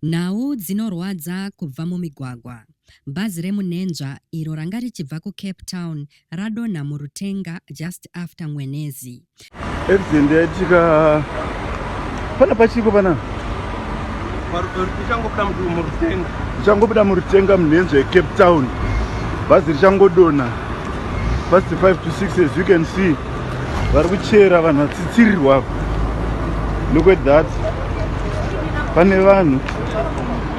Nhau dzinorwadza kubva mumigwagwa. Bhazi remunhenzva iro ranga richibva kuCape Town radonha murutenga just after Mwenezi. Accident yaitika pana pachiko pana ichangobuda murutenga munhenzva yeCape Town. Bhazi richangodonha past 5 to 6 as you can see. vari kuchera vanhu vatsitsirirwa apa look at that pane vanhu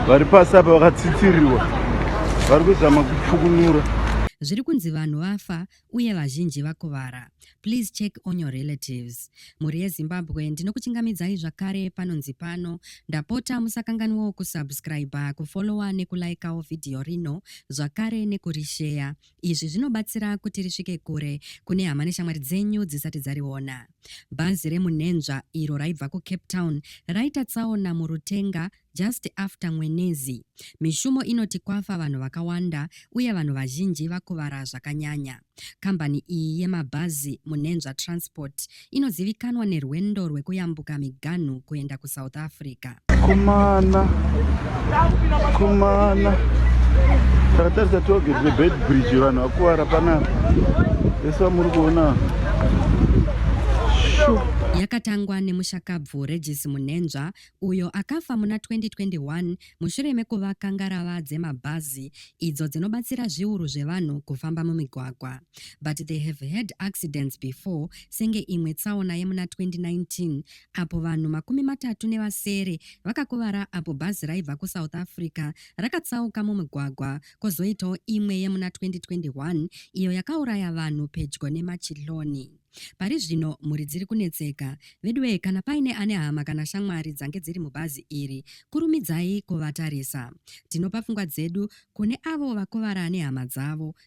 vari pasi apa vakatsitsirirwa vari kuzama kupfukunura zviri kunzi vanhu vafa uye vazhinji vakuvara please check on your relatives mhuri yezimbabwe ndinokuchingamidzai zvakare panonzi pano ndapota musakanganwawo kusubscribe kufolowa nekulaikawo vhidhiyo rino zvakare nekurisheya Izvi zvinobatsira kuti risvike kure kune hama neshamwari dzenyu dzisati dzariona. Bhazi remunhenzva iro raibva kuCape Town raita tsaona muRutenga just after Mwenezi. Mishumo inoti kwafa vanhu vakawanda uye vanhu vazhinji vakuvara zvakanyanya. Kambani iyi yemabhazi, Munhenzva Transport, inozivikanwa nerwendo rwekuyambuka miganhu kuenda kusouth africa kumana kumana takatarisa toge rebed bridge vanhu vakuvara panapa vese vamuri kuona yakatangwa nemushakabvu regis munenzva uyo akafa muna 2021 mushure mekuvaka ngarava dzemabhazi idzo dzinobatsira zviuru zvevanhu kufamba mumigwagwa but they have had accidents before senge imwe tsaona yemuna 2019 apo vanhu makumi matatu nevasere vakakuvara apo bhazi raibva kusouth africa rakatsauka mumigwagwa kozoitawo imwe yemuna 2021 iyo yakauraya vanhu pedyo nemachiloni Pari zvino mhuri dziri kunetseka. Veduwee kana paine ane hama kana shamwari dzange dziri mubhazi iri, kurumidzai kuvatarisa. Tinopa pfungwa dzedu kune avo vakuvara nehama dzavo